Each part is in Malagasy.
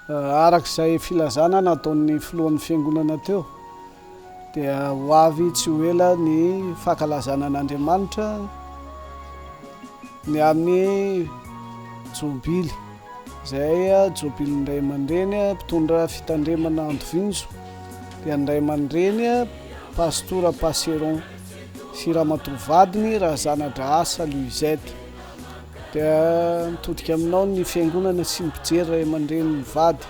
Araka izay filazana nataon'ny filohan'ny fiangonana teo dia ho avy tsy ho ela ny fankalazana an'Andriamanitra ny amin'ny jobily izay jobilin'ny ray aman-dreny mpitondra fitandremana Andovinjo dia ny ray aman-dreny pastora Passeron sy ramatoa vadiny Razanadrahasa Luisette. Dia mitodika aminao ny fiangonana sy mijery ray aman-dreny mivady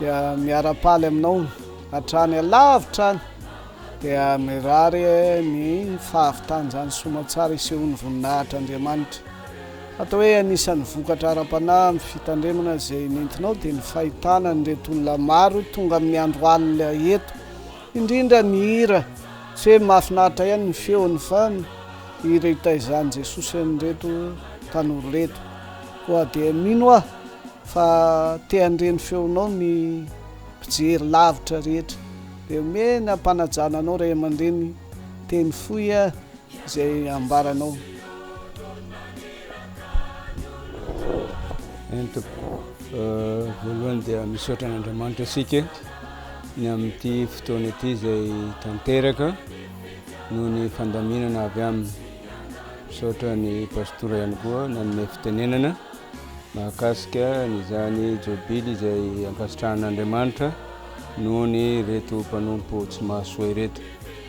dia miara-paly aminao hatrany alavitra any dia mirary ny fahavitan'izany soamantsara isehoan'ny voninahitr' Andriamanitra. Atao hoe anisan'ny vokatra ara-panahy amin'ny fitandremana izay nentinao dia ny fahitana an'ireto olona maro tonga amin'ny andro alina eto, Indrindra ny hira, tsy hoe mahafinaritra ihany ny feony fa ny hira itaizan'i Jesosy an'ireto tanora ireto. Koa dia mino aho fa te handre ny feonao ny mpijery lavitra rehetra. Dia omeny ampanajana anao ray aman-dreny teny fohy a! Izay ambaranao. Eny tompoko, voalohany dia misaotra an'Andriamanitra isika ny amin'ity fotoana ity izay tanteraka noho ny fandaminana avy aminy. Misaotra ny pastora ihany koa nanome fitenenana mahakasika an'izany jobily izay ankasitrahan'Andriamanitra noho ny ireto mpanompo tsy mahasoa ireto.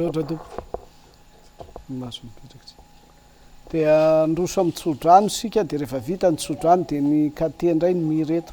Misaotra Tompo. Maso mipetraka tsy. Dia androso amin'ny tsodrano isika dia rehefa vita ny tsodrano dia ny katie indray ny mihira eto.